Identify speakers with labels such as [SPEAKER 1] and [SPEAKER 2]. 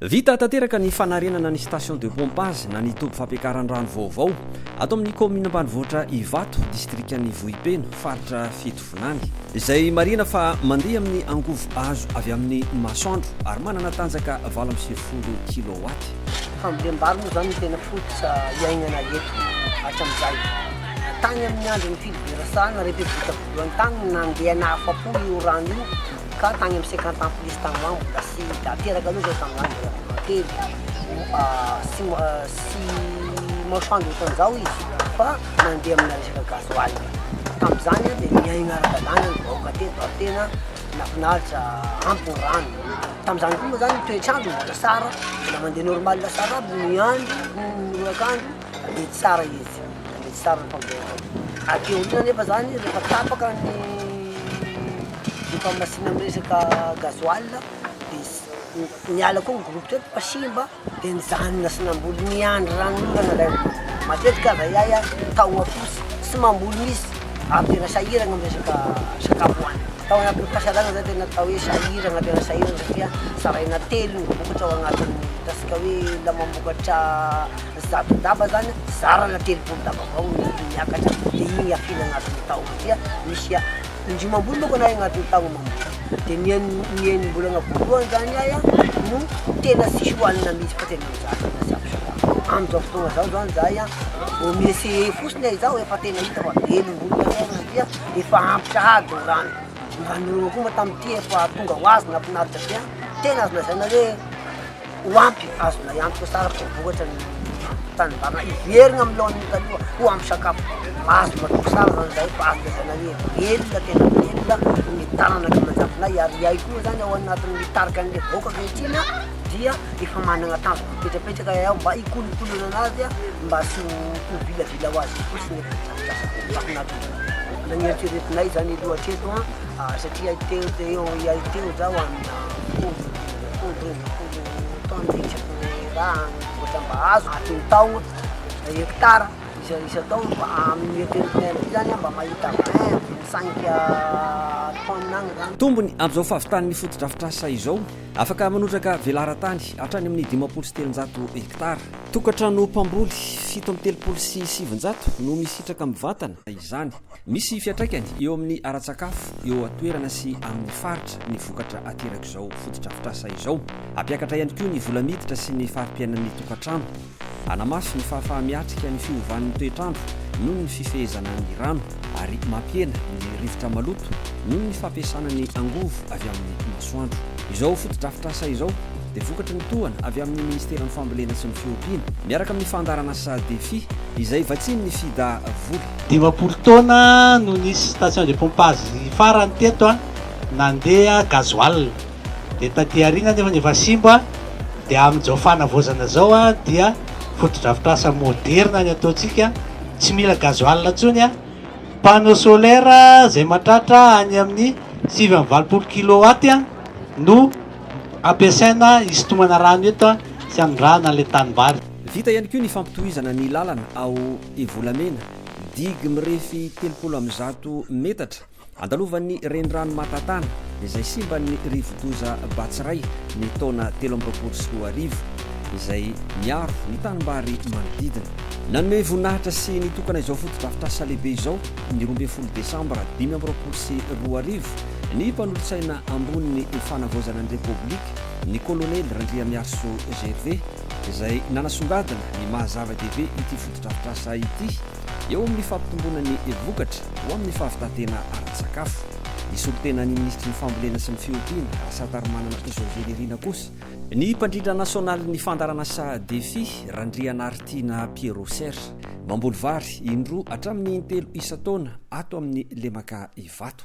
[SPEAKER 1] Vita tanteraka ny fanarenana ny station de pompage na ny toby fampiakaran-drano vaovao ato amin'ny kaominina ambanivohitra Ivato, distrikan'i Vohipeno, faritra fito. Vilany, izay marihina fa mandeha amin'ny angovo azo avy amin'ny masoandro ary manana tanjaka valo amby sivifolo kilaowaty. Fambolem-bary
[SPEAKER 2] moa izany no tena fototra iaignana eto hatramin'izay. Tany amin'ny andron'i Filiberasan, na Repiblika voalohany tany no nandeha nahafapo io rano io ka tany amin'ny cinquante ans plus tany ho any mbola sy da teraka aloha izao tamin'izany mbola vao kely sy sy masoandro ohatran'izao izy fa mandeha amina resaka gasoil tamin'izany dia niaina ara-dalàna ny vahoaka teto ary tena nahafinaritra ampy ny rano tamin'izany koa moa zany ny toetr'andro mbola tsara mbola mandeha normal tsara aby ny andro ny orak'andro dia tsara izy dia tsara ny fambolena aty aoriana nefa zany rehefa tapaka ny diampahamasina amin'ny resaka gasoil dia miala koa ny groupe teto fa simba Dia nijanona sy namboly niandry ranonorana ilay olona. Matetika aza ahy a, tahoa fotsy, tsy mamboly mihitsy ary tena sahiragna amin'ny resaka sakafo hohanina. Tao anatin'ny fahasahiranana zah tena atao hoe sahiragna tena sahiragna satria zaraina telo ny vokatra ao anatin'ny ataontsika hoe olona mamokatra zato daba zany zarana telopolo daba avao ny miakatra dia igny afiana anatin'ny taona dia misy a. Indroa amam-bolana aho vao nahay agnatin'ny taogno amam-bolana, dia ny en- ny enim-bolagna voalohany zany ahy a no tena tsisy hohanina mihitsy fa tena mijaly tena tsy ampy sakafo, am'zao fotoagna zao zany zahay a vao mi-essayer fotsiny izaho efa tena hita fa velom-bolo ny anay satria efa ampy sahady ny rano, ny rano norana koa moa tamin'ity efa tonga ho azy nahafinaritra be a, tena azo lazaina hoe. Ho ampy azonay antoka tsara fa voatra ny tanimbary hiverina amin'ny laoniny taloha ho ampy sakafo. Azonao antoka tsara zany zahay fa azo lazaina hoe velona tena velona ny tanana ankimanajafinay ary iay koa zany ao anatin'ny tarika an'ilay vahoaka ankehitriny dia efa manana tanjona mipetrapetraka iay ao mba hikolokolona anazy mba tsy ho vilavila ho azy fotsiny eto an-drafitr'asa. Mbola nieritreretinay zany aloha hatreto satria teo teo iay teo zaho amina folo Tombony amin'izao fahavitan'ny
[SPEAKER 1] fotodrafitrasa izao, afaka manotraka velaran-tany hatrany amin'ny dimampolo sy telonjato hektara. Tokantrano mpamboly fito amby telopolo sy sivinjato no misitraka mivantana izany. Misy fiantraikany eo amin'ny ara-tsakafo eo an-toerana sy amin'ny faritra ny vokatra aterak'izao fotodrafitrasa izao. Hampiakatra ihany koa ny vola miditra sy ny fari-piainan'ny tokantrano. Hanamafy ny fahafaha-miatrika ny fiovan'ny toetr'andro noho ny fifehezana ny rano ary mampihena ny rivotra maloto noho ny fampiasana ny angovo avy amin'ny masoandro. Izao fotodrafitrasa izao dia vokatry ny tohana avy amin'ny Ministeran'ny Fambolena sy ny Fiompiana miaraka amin'ny Fandaharan'asa Defi izay vatsian'ny Fida vola. Dimampolo taona
[SPEAKER 3] no nisy station de pompage farany teto nandeha gasoil, dia taty aoriana anefa efa simba, dia amin'izao fanavaozana izao dia fotodrafitrasa moderina ny ataontsika, tsy mila gasoil intsony, panneau solaire izay mahatratra any amin'ny sivy amby valopolo kilowatt no ampiasaina hisintomana rano eto sy hanondrahana ilay tanimbary. Vita ihany koa ny
[SPEAKER 1] fampitohizana ny lalana ao Ity volamena, digy mirefy telopolo amby zato metatra, andalovan'ny renirano Matatana, izay simban'ny rivodoza Batsirai ny taona telo amby roapolo sy roa arivo, izay miaro ny tanimbary manodidina. Nanome voninahitra sy nitokana izao fotodrafitrasa lehibe izao, ny roa ambin'ny folo desambra dimy amby roapolo sy roa arivo, ny mpanolotsaina ambonin'ny fanavaozana ny Repoblika, ny kolonely Randriamiarisoa Gervais. izay nanasongadina ny maha zava-dehibe ity fotodrafitrasa ity eo amin'ny fampitomboana ny vokatra ho amin'ny fahavitan-tena ara-tsakafo. Ny solontenan'ny minisitry ny Fambolena sy ny Fiompiana, Rasatarimanana Tojo Velirina kosa, Ny mpandrindra nasionalin'ny fandaharanasa Defi, Randrianaritiana Pierrot Ser, mamboly vary indroa hatramin'ny intelo isan-taona ato amin'ny lemaka Ivato.